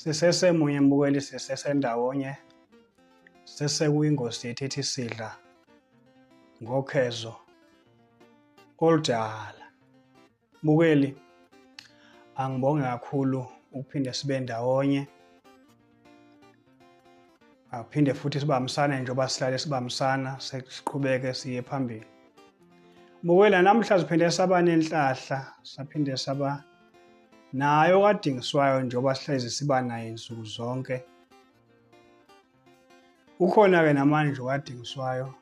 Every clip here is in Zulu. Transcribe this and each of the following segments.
sisesemunye mbukeli sisesendawonye sesekuyingosi yethu ethi sidla ngokhezo oludala bukeli angibonge kakhulu ukuphinde sibe ndawonye aphinde futhi sibambisane njengoba sihlale sibambisana siqhubeke siye phambili Mbukwela namhla siphinde saba nenhlahla saphinde saba nayo kadingiswayo njengoba sihlezi siba naye nsuku zonke ukhona ke namanje kadingiswayo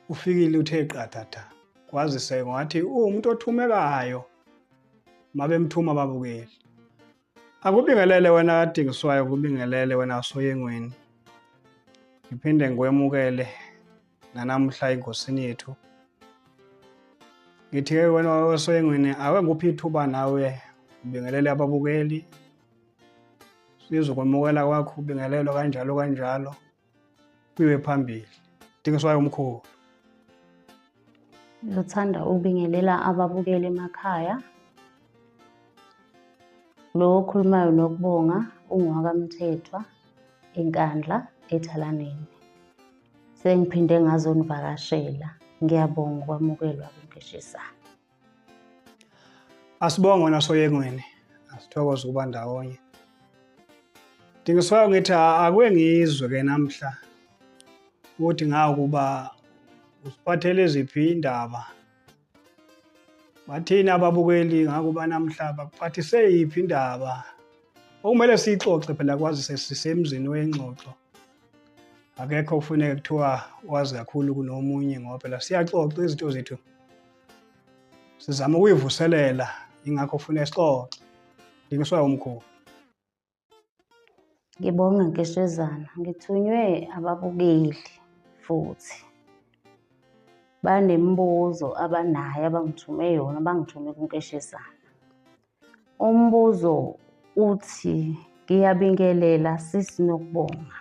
ufikile uthe qathatha kwazise ngathi uwumuntu othumekayo mabemthuma babukeli Akubingelele wena kadingiswayo kubingelele wena asoyengweni. Ngiphinde ngikwemukele nanamuhla engosini yethu. Ngithi ke wena wasoyengweni awe nguphi ithuba nawe ubingelele ababukeli. Sizokwemukela kwakho ubingelelo kanjalo kanjalo. Kuyiwe phambili. Dingiswayo umkhulu. Ngithanda ukubingelela ababukeli emakhaya. Lo okhulumayo nokubonga ungowakamthethwa enkandla ethalaneni. Sengiphinde ngazonivakashela. Ngiyabonga ukwamukelwa kunkeshisana. Asibonge wena soyengweni. Asithokoze ukuba ndawonye. Ndingiswayo ngithi akuye ngizwe ke namhla ukuthi ngawukuba usiphathele ziphi indaba. Bathini ababukeli ngakuba namhla bakuphathise yiphi indaba? Okumele siyixoxe phela kwazi sesisemzini wengxoxo. Akekho kufuneka kuthiwa wazi kakhulu kunomunye ngoba phela siyaxoxa izinto zethu. sizama ukuyivuselela ingakho ufuna isixoxe ngingiswa umkhulu ngibonga nkeshezana ngithunywe ababukeli futhi banemibuzo abanayo abangithume yona bangithume kunkeshezana Umbuzo uthi ngiyabingelela sisi nokubonga.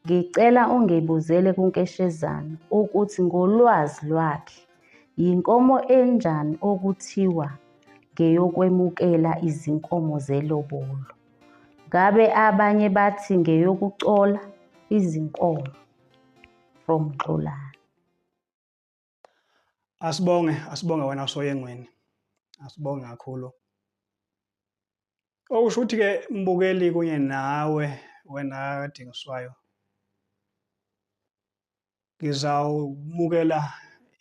Ngicela ungibuzele kuNkeshezana ukuthi ngolwazi lwakhe yinkomo enjani okuthiwa ngeyokwemukela izinkomo zelobolo. Ngabe abanye bathi ngeyokucola izinkomo from Xolani. Asibonge, asibonge wena usoyengweni. Asibonge kakhulu. Okusho ukuthi ke mbukeli kunye nawe wena kadingiswayo. Ngizawumukela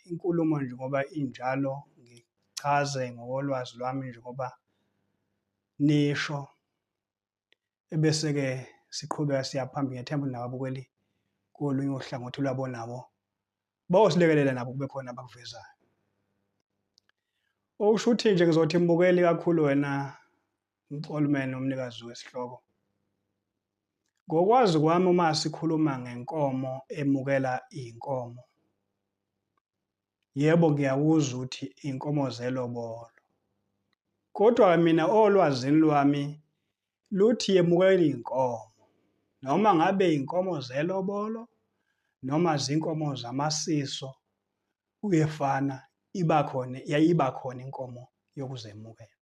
inkulumo nje ngoba injalo ngichaze ngokolwazi lwami nje ngoba nisho ebese-ke siqhubeka siya phambili ngethemba ukuthi nababukeli kolunye uhlangothi lwabo nabo bawosilekelela nabo kube khona abakuvezayo okusho ukuthi nje ngizothi mbukeli kakhulu wena mxolumene umnikazi wesihloko ngokwazi kwami uma sikhuluma ngenkomo emukela iy'nkomo Yebo ngiyakuzwa uthi inkomo zelobolo. Kodwa mina olwazini lwami luthi yemukela inkomo. Noma ngabe inkomo zelobolo noma zinkomo zamasiso kuyefana iba khona yayiba khona inkomo yokuzemukela.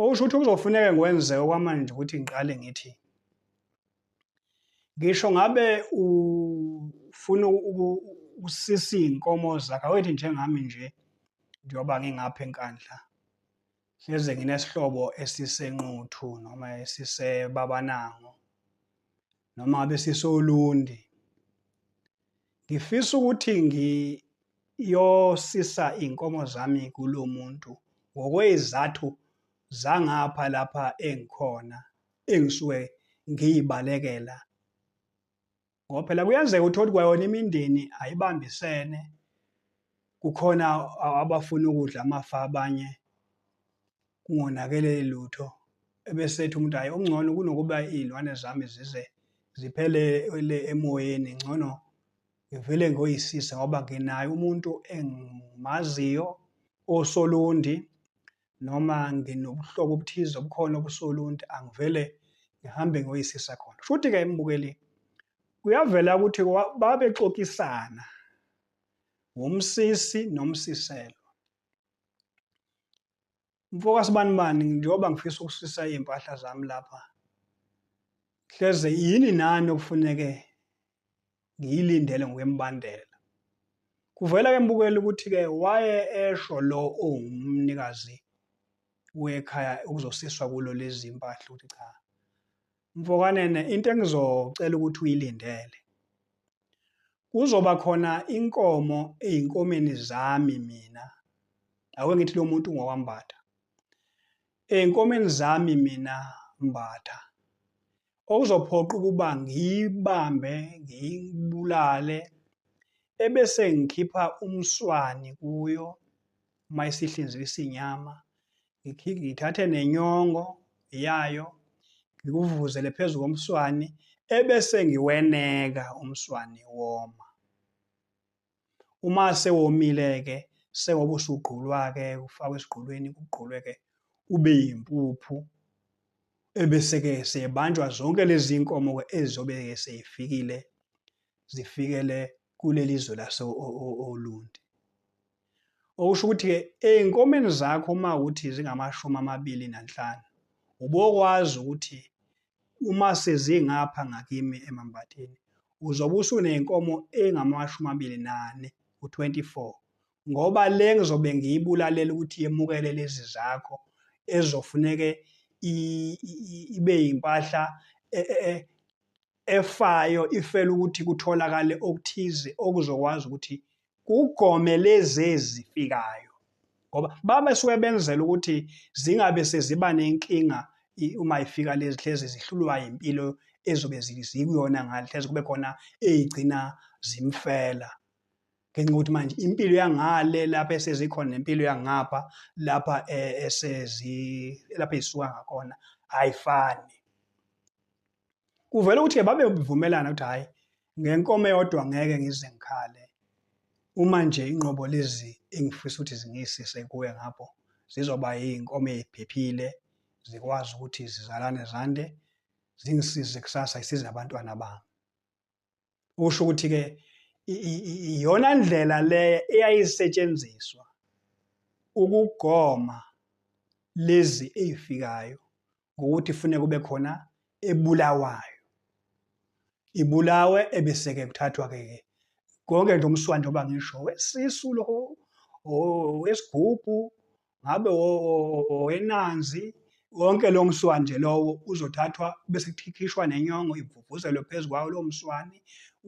okusho ukuthi kuzofuneka ngikwenze okwamanje ukuthi ngiqale ngithi ngisho ngabe ufuna usisi inkomo zakhe awethi njengami nje njengoba ngingapha enkandla hleze nginesihlobo esisenquthu noma esisebabanango noma ngabe sisolundi ngifisa ukuthi ngiyosisa iy'nkomo zami kulo muntu ngokwey'zathu zangapha lapha engikhona engisuke ngiyibalekela ngoba phela kuyenzeka ukuthi othi kwayona imindeni ayibambisene kukhona abafuna ukudla amafa abanye kungonakele lutho. Ebesethi umuntu hhayi okungcono kunokuba iy'lwane zami zize ziphelele emoyeni ngcono ngivele ngoyisise ngoba nginaye umuntu engimaziyo osolundi noma nginobuhlobo obuthize obukhona obusolundi angivele ngihambe ngoyisisa khona futhi-ke embukeli kuyavela ukuthi babexoxisana wumsisi nomsiselwa mfoka sibanibani njengoba ngifisa ukusisa iy'mpahla zami lapha hleze yini nani okufuneke ngiyilindele ngokwembandela kuvela ke mbukeli ukuthi-ke waye esho lo owumnikazi wekhaya ukuzosiswa kulo lezi mpahla ukuthi cha Mfokanene into engizocela ukuthi uyilindele. Kuzoba khona inkomo ezinkomeni zami mina. Ake ngithi lo muntu ngokwambatha. Ezinkomeni zami mina mbatha. Okuzophoqa ukuba ngiyibambe, ngiyibulale ebese ngikhipha umswani kuyo uma isihlinzisa inyama ngithathe nenyongo yayo ngikuvuzele phezu komswani ebese ngiweneka umswani woma uma sewomile ke sengoba usugqulwa ke ufakwa esigqulweni kugqulwe ke ube yimpuphu ebese ke sebanjwa zonke lezi nkomo ke ezizobe seyifikile zifikele kuleli zwe lase-Olundi. Okusho ukuthi-ke ey'nkomeni zakho uma ukuthi zingamashumi amabili nanhlanu, ubokwazi ukuthi uma sezingapha ngakimi emambatheni, uzobe usuney'nkomo ey'ngamashumi amabili nane, u-24. Ngoba le ngizobe ngiyibulalela ukuthi yemukele lezi zakho ezofuneke ibe yimpahla e, e, e, efayo ifela ukuthi kutholakale okuthize okuzokwazi ukuthi kugome lezi ezifikayo ngoba baba suke benzela ukuthi zingabe seziba nenkinga uma ifika lezi hlezi zihlulwa impilo ezobe zikuyona ngale hlezi kube khona ezigcina zimfela ngenxa ukuthi manje impilo yangale lapha esezikhona nempilo yangapha lapha eh, esezi lapha ezisuka ngakhona ayifani kuvela ukuthi-ke babe ubuvumelana ukuthi hhayi ngenkomo eyodwa ngeke ngize ngikhale uma nje inqobo lezi engifisa ukuthi zingisise kuwe ngapho zizoba iy'nkomo ey'phephile zikwazi ukuthi zizalane zande zingisize kusasa isize abantwana bami ukusho ukuthi ke iyona ndlela le eyayisetshenziswa ukugoma lezi ezifikayo ngokuthi fune kube khona ebulawayo ibulawe ebeseke kuthathwa ke konke nje umswandi oba ngisho wesisu lo owesigubhu ngabe owenanzi wonke lo mswane nje lowo uzothathwa bese kukhishwa nenyongo ivuvuzelwe phezu kwawo lo mswane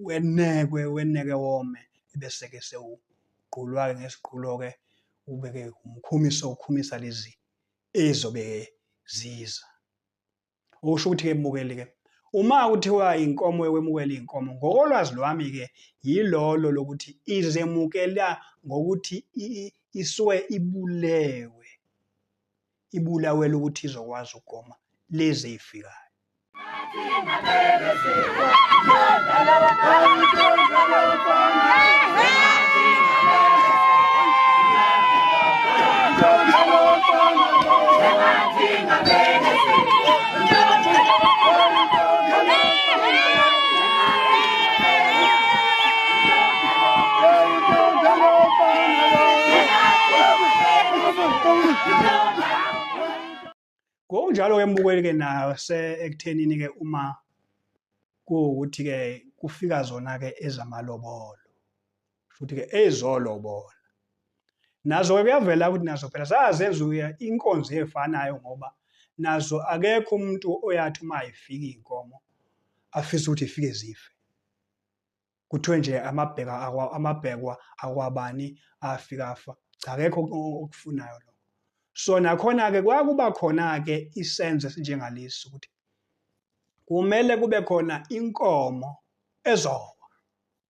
wenekwe weneke wome ebeseke sewugqulwa-ke ngesiqhulo-ke ubeke umkhumiso ukhumisa lezi ezobe ziza okusho ukuthi ke mukeli ke uma kuthiwa inkomo yokwemukela inkomo ngokolwazi lwami ke yilolo lokuthi izemukela ngokuthi isuke ibulewe ibulawela ukuthi izokwazi ukugoma lezi ifikayo Don't ngokunjalo-ke mbukeli-ke nase ekuthenini-ke uma kuwukuthi-ke kufika zona-ke ezamalobolo futhi ke ezolobola nazo ke kuyavela ukuthi nazo phela zazenza uya inkonzo efanayo ngoba nazo akekho umuntu oyathi uma ifika inkomo afisa ukuthi ifike zife kuthiwe nje amabheka amabhekwa akwabani afika afa cha akekho okufunayo lo so nakhona ke kwakuba khona ke isenzo esinjengalesi ukuthi kumele kube khona inkomo ezowa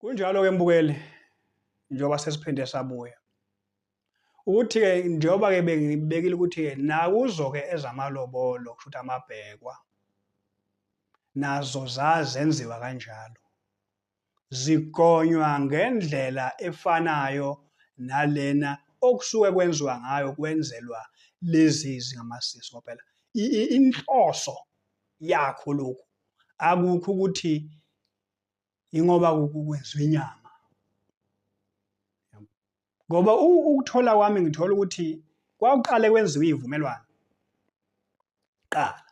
Kunjalo-ke mbukeli njengoba sesiphinde sabuya ukuthi-ke njengoba-ke bengibekile ukuthi-ke nakuzo-ke ezamalobolo kusho ukuthi amabhekwa nazo zazenziwa kanjalo zigonywa ngendlela efanayo nalena okusuke kwenziwa ngayo kwenzelwa lezi zingamasisi ngoba phela inhloso yakho lokhu akukho ukuthi ingoba kwenziwa inyama ngoba ukuthola kwami ngithola ukuthi kwakuqale kwenziwa izivumelwano qala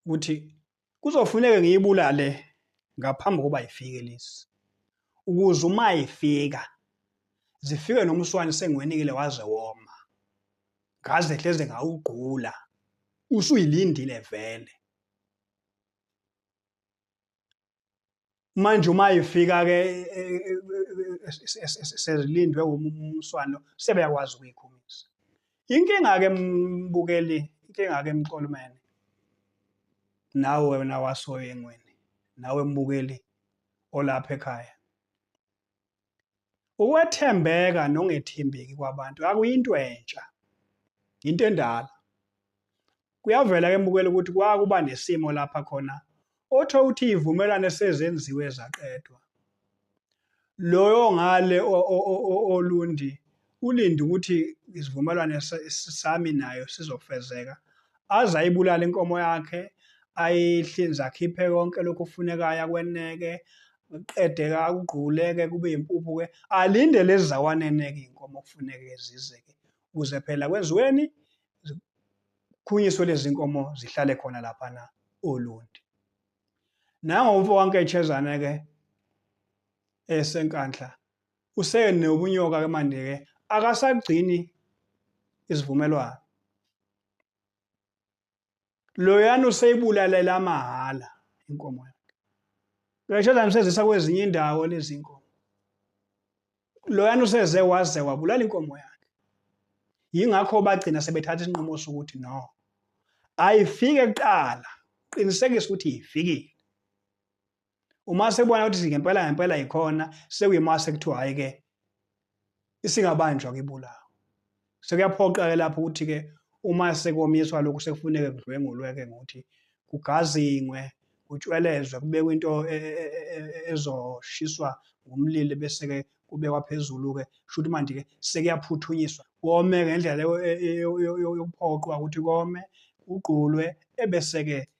ukuthi kuzofuneka ngiyibulale ngaphambi kokuba ifike lezi ukuze uma ifika zifike nomswane sengiwenikile waze woma ngaze hleze ngawugqula usuyilindile vele manje uma ifika ke sezilindwe umswano sebeyakwazi ukuyikhumisa inkinga ke mbukeli inkinga ke mqolumene nawe wena wasoyengweni nawe mbukeli olapha ekhaya Ukwethembeka nongethembeki kwabantu akuyinto entsha. Into endala. Kuyavela ke mbukela ukuthi kwakuba nesimo lapha khona otho uthi ivumelwane sezenziwe zaqedwa. Loyo ngale olundi Ulinde ukuthi isivumelwane sami nayo sizofezeka, aze ayibulale inkomo yakhe, ayihlinze akhiphe konke lokhu kufunekayo akweneke, qede-ke akugqule-ke kube yimpuphu-ke, alinde lezi zawaneneke iy'nkomo kufuneke zize-ke ukuze phela kwenziweni zikhunyiswe lezi nkomo zihlale khona laphana olundi. Nango umfo wanketshezane-ke esenkandla useyene ubunyoka ke manje ke akasagcini isivumelwano loyana useyibulalela amahhala inkomo yakhe loyashada msezisa kwezinye indawo lezi nkomo loyana useze waze wabulala inkomo yakhe yingakho bagcina sebethatha isinqumo sokuthi no ayifike kuqala qinisekisa ukuthi ifikile uma sebona ukuthi ngempela ngempela yikhona sekuyima sekuthiwa hayi ke isingabanjwa kibulawa sekuyaphoqa ke lapho ukuthi ke uma sekomiswa lokhu sekufuneke kudlwengulwe ke ngokuthi kugazingwe kutshwelezwe kubekwe into e, e, e, ezoshiswa ngomlilo bese ke kubekwa phezulu ke shuthi manje ke sekuyaphuthunyiswa kome ngendlela yokuphoqwa ukuthi kome kugqulwe ebese ke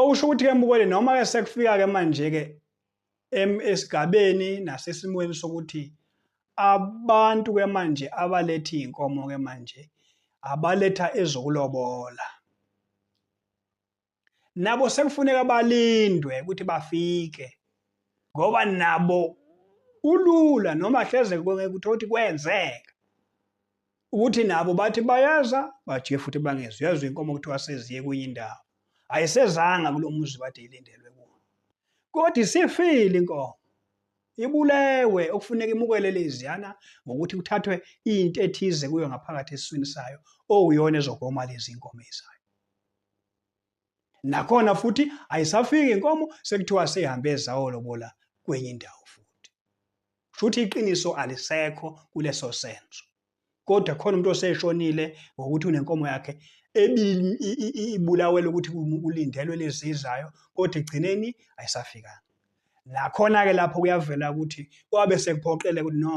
Okusho ukuthi-ke Mbukweni noma-ke sekufika-ke manje-ke esigabeni nasesimweni sokuthi abantu-ke manje abaletha iy'nkomo-ke manje abaletha ezokulobola. nabo sekufuneka balindwe ukuthi bafike ngoba nabo ulula noma hleze kuthiwa ukuthi kwenzeka ukuthi nabo bathi bayeza bajike futhi bangezwa uyezwa inkomo kuthiwa seziye kwenye indawo ayisezanga kulo muzi bade ilindelwe kuwo kodwa isifile inkomo ibulewe okufuneka imukele leziyana ngokuthi kuthathwe into ethize kuyo ngaphakathi esiswini sayo okuyona ezogoma lezi nkomo ezayo nakhona futhi ayisafiki inkomo sekuthiwa seyihambe ezawolobola kwenye indawo futhi shuthi iqiniso alisekho kuleso senzo kodwa khona umuntu oseshonile ngokuthi unenkomo yakhe ibulawela ukuthi ulindelwe lezizayo kodwa egcineni ayisafikanga nakhona-ke lapho kuyavela ukuthi kwabe sekuphoqele ukuthi no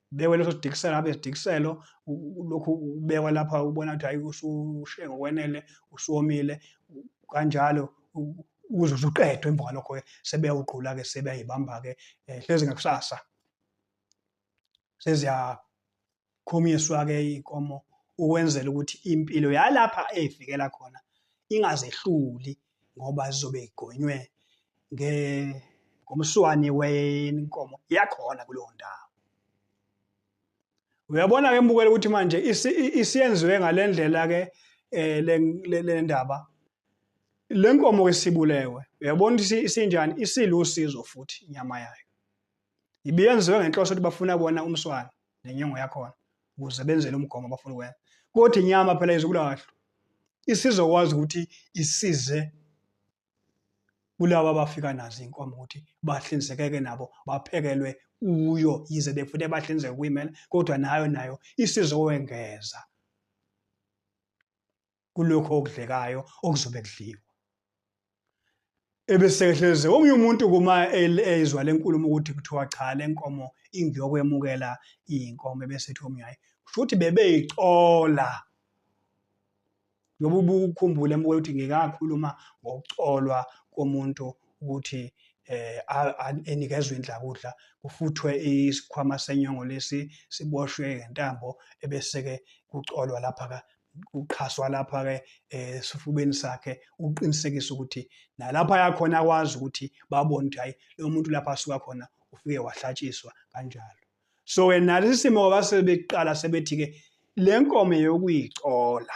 bekwe leso sidikiselo abe sidikiselo lokhu ubekwa lapha ubona ukuthi hayi usushe ngokwenele usuwomile kanjalo uze usuqedwe emva kwalokho ke sebeyawugqula ke sebeyayibamba ke eh, hlezi ngakusasa seziyakhumiswa ke iy'nkomo ukwenzela ukuthi impilo yalapha eyifikela khona ingazehluli ngoba zizobe igonywe ngomswane wenkomo yakhona kuleyo ndawo uyabona ke mbukela ukuthi manje isiyenziwe ngale ndlela ke eh, le ndaba le nkomo ke sibulewe uyabona ukuthi isinjani isilusizo futhi inyama yayo ibiyenziwe ngenhloso ukuthi bafuna bona umswana nenyongo yakhona ukuze benzele umgomo abafuna ukwenza kodwa inyama phela izokulahlwa isizokwazi ukuthi isize kulaba abafika nazo inkomo ukuthi bahlinzekeke nabo baphekelwe kuyo yize befune bahlinzeke kuyimela kodwa nayo nayo isizokwengeza kulokho okudlekayo okuzobe kudliwa ebesehleze omunye umuntu kuma ezwa lenkulumo ukuthi kuthiwa cha lenkomo ingiyokwemukela inkomo ebesethi omunye hayi futhi bebeyicola ngoba ubukhumbule embuke ukuthi ngikakhuluma ngokucolwa komuntu ukuthi eh enikezwe indlakudla kufuthwe isikhwama senyongo lesi siboshwe ngentambo ebeseke kucolwa lapha uqhaswa lapha ke eh, esifubeni sakhe ukuqinisekisa ukuthi nalapha yakhona akwazi ukuthi babone ukuthi hayi lo muntu lapha asuka khona ufike wahlatshiswa kanjalo so ke nalesi simo base beqala sebethi ke le nkomo yokuyicola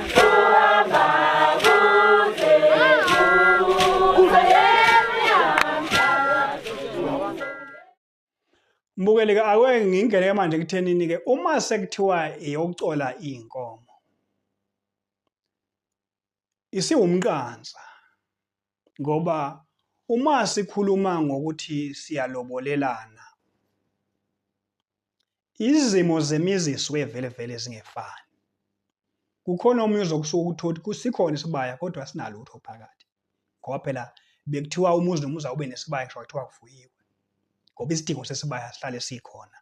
Mbukeli ke ake ngingene ke manje kuthenini ke uma sekuthiwa iyokucola inkomo isiwumqansa ngoba uma sikhuluma ngokuthi siyalobolelana izimo zemizi zisuke vele vele zingefani kukhona omunye uzokusuka ukuthi kusikhona isibaya kodwa sinalutho phakathi ngoba phela bekuthiwa umuzi nomuzi awube nesibaya ngisho kuthiwa kufuyiwe ngoba isidingo sesibaya sihlale sikhona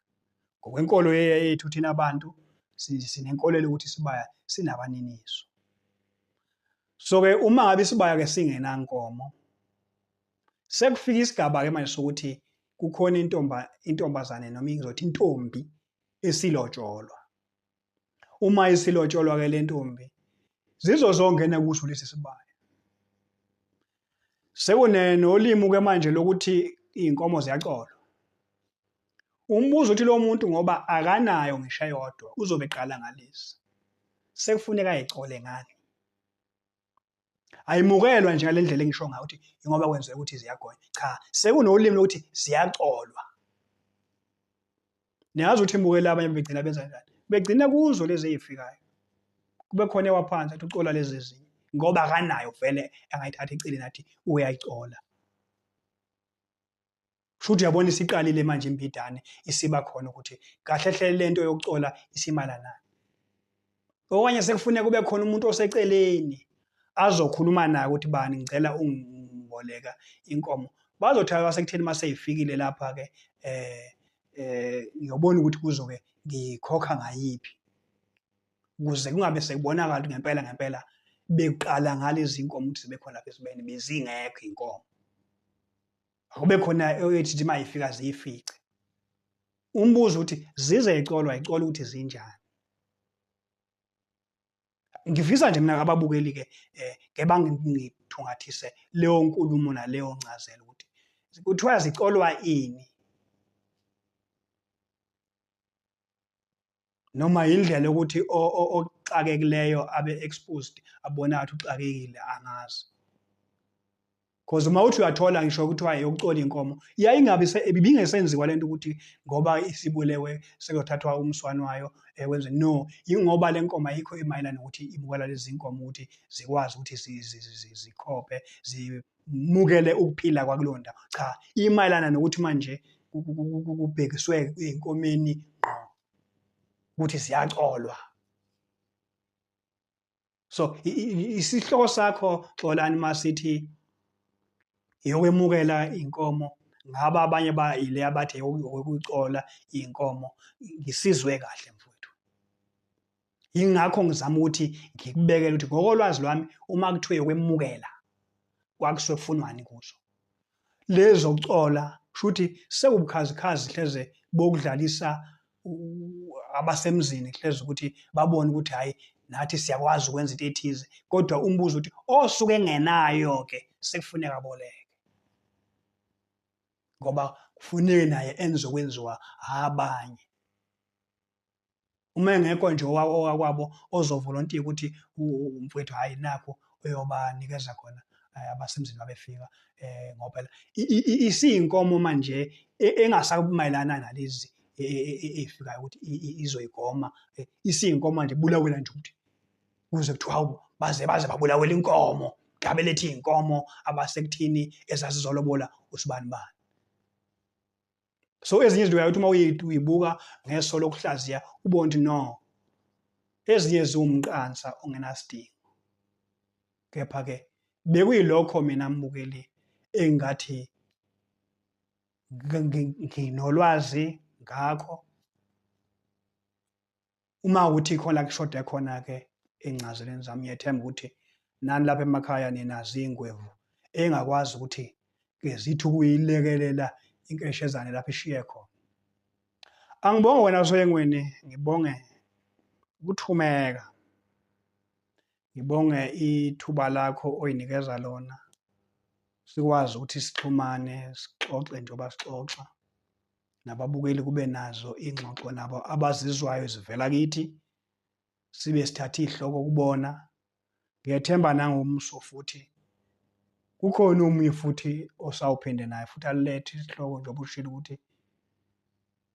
ngokwenkolo yethu thina abantu sinenkolelo ukuthi isibaya sinabaniniso so ke uma ngabe isibaya ke singenankomo sekufika isigaba ke manje sokuthi kukhona intomba intombazane noma ingizothi intombi esilotsholwa uma isilotsholwa ke lentombi zizozongena kuso lesi sibaya sekunolimi ke manje lokuthi iy'nkomo ziyacolwa umbuzo uthi lo muntu ngoba akanayo ngisho eyodwa uzobe eqala ngalezi sekufuneka ayicole ngani ayimukelwa nje ngale ndlela engisho ngayo ukuthi ingoba kwenzeka ukuthi ziyagonya cha sekunolimi lokuthi ziyacolwa niyazi ukuthi emukele abanye begcina benza njani begcina kuzo lezi ey'fikayo kube khona ewaphansi athi ucola lezi ezinye ngoba akanayo vele angayithatha eceleni athi uyayicola shuthi uyabona isiqalile manje imbidane isiba khona ukuthi kahle hle lento yokucola isimalanani okanye sekufuneka kube khona umuntu oseceleni azokhuluma naye ukuthi bani ngicela ungiboleka inkomo bazothi abasekutheni uma seyifikile lapha-ke eh eh ngiyobona ukuthi kuzoke ngikhokha ngayiphi ukuze kungabe sekubonakala ukuthi ngempela ngempela bekuqala ngalezi nkomo ukuthi zibekhona lapha esibeni bezingekho inkomo akube khona eyothi nje mayifika ziyifice umbuzo ukuthi zize icolwa icola ukuthi zinjani ngifisa nje mina ababukeli ke eh, ke bangithungathise leyo nkulumo naleyo ncazelo ukuthi kuthiwa zicolwa ini noma yindlela yokuthi oxakekileyo abe exposed abona athi uxakekile angazi because uma uthi uyathola ngisho kuthiwa yokucola inkomo yayingabe ibingesenziwa lento ukuthi ngoba isibulewe sekuyothathwa umswano wayo ekwenze eh, no ingoba le nkomo ayikho emayelana ukuthi ibukala lezi nkomo ukuthi zikwazi ukuthi zikhophe mukele ukuphila kwakuleyo ndawo cha imayelana nokuthi manje kubhekiswe enkomeni ngqo ukuthi siyacolwa so isihloko sakho xolani masithi yokwemukela inkomo ngaba abanye ba ile abathe yokucola inkomo ngisizwe kahle mfowethu yingakho ngizama ukuthi ngikubekele ukuthi ngokolwazi lwami uma kuthiwe yokwemukela kwakusuke kufunwani kuzo lezo kucola shuthi sekubukhazikhazi hleze bokudlalisa abasemzini hleze ukuthi babone ukuthi hayi nathi siyakwazi ukwenza into ethize kodwa umbuzo ukuthi osuke engenayo ke sekufuneka boleke ngoba kufuneke naye enze okwenziwa abanye uma engekho nje owakwabo ozovolontiya ukuthi umfowethu hhayi nakho uyobanikeza khona eh, abasemzini babefika eh, ngoba isiyinkomo manje e, engasakumayelana nalezi e, e, efikayo ukuthi izoyigoma isiyinkomo manje bulawela nje ukuthi kuze kuthiwa hawu baze baze babulawela inkomo gabe lethi inkomo abasekuthini ezazizolobola usibani bani so ezinye izinto uyayothi uma uyibuka ngeso lokuhlaziya ubone ukuthi no ezinye ziwumqansa ongenasidingo kepha-ke bekuyilokho mina mbukeli engathi nginolwazi ngakho uma ukuthi khona kushoda khona ke encazeleni zami ngiyethemba ukuthi nani lapha emakhaya nina zingwevu engakwazi ukuthi ke zithi ukuyilekelela inkeshezane lapha ishiye khona angibonge wena soyengweni ngibonge ukuthumeka ngibonge ithuba lakho oyinikeza lona sikwazi ukuthi sixhumane sixoxe njengoba sixoxa nababukeli kube nazo ingxoxo nabo abazizwayo zivela kithi sibe sithatha ihloko kubona ngethemba nangomso futhi kukhona omunye futhi osawuphinde naye futhi alethe isihloko njengoba ushilo ukuthi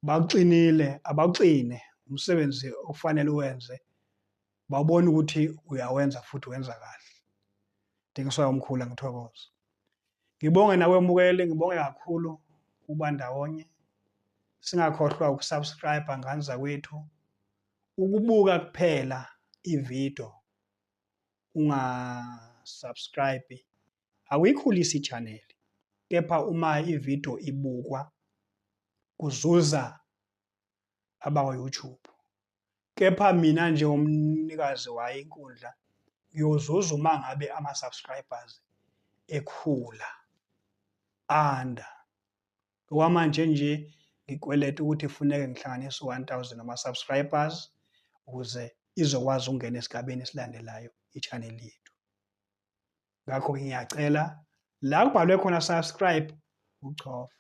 bakuxinile abaxine umsebenzi okufanele uwenze bawubona ukuthi uyawenza futhi wenza kahle Dingiswayo Mkhula ngithokoza ngibonge nawe mukeli ngibonge kakhulu ukuba ndawonye singakhohlwa ukusubscribe ngani zakwethu ukubuka kuphela ivideo unga subscribe awuyikhulisi ichannel kepha uma ivideo ibukwa kuzuza abakwa YouTube kepha mina njengomnikazi wayo inkundla ngiyozuza uma ngabe ama-subscribers ekhula anda okwamanje nje ngikweleta ukuthi funeke ngihlanganise 1000 ama-subscribers ukuze izokwazi ukungena esigabeni esilandelayo i-channel yethu ngakho ngiyacela la kubhalwe khona subscribe uchofe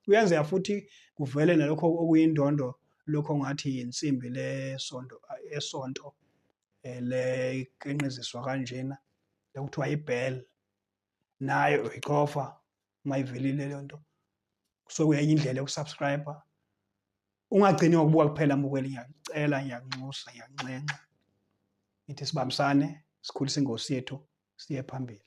kuyenzeka futhi kuvele nalokho okuyindondo lokho ngathi insimbi lesonto esonto eh, leqenqiziswa kanjena lokuthiwa ibell nayo uyichofa uma ivelile leyo nto kusuke kuyenye indlela yokusubscribe ungagcini ngokubuka kuphela mbukeli ngiyakucela ngiyakunxusa ngiyanxenxa ngithi sibambisane sikhulise ingosi yethu siye phambili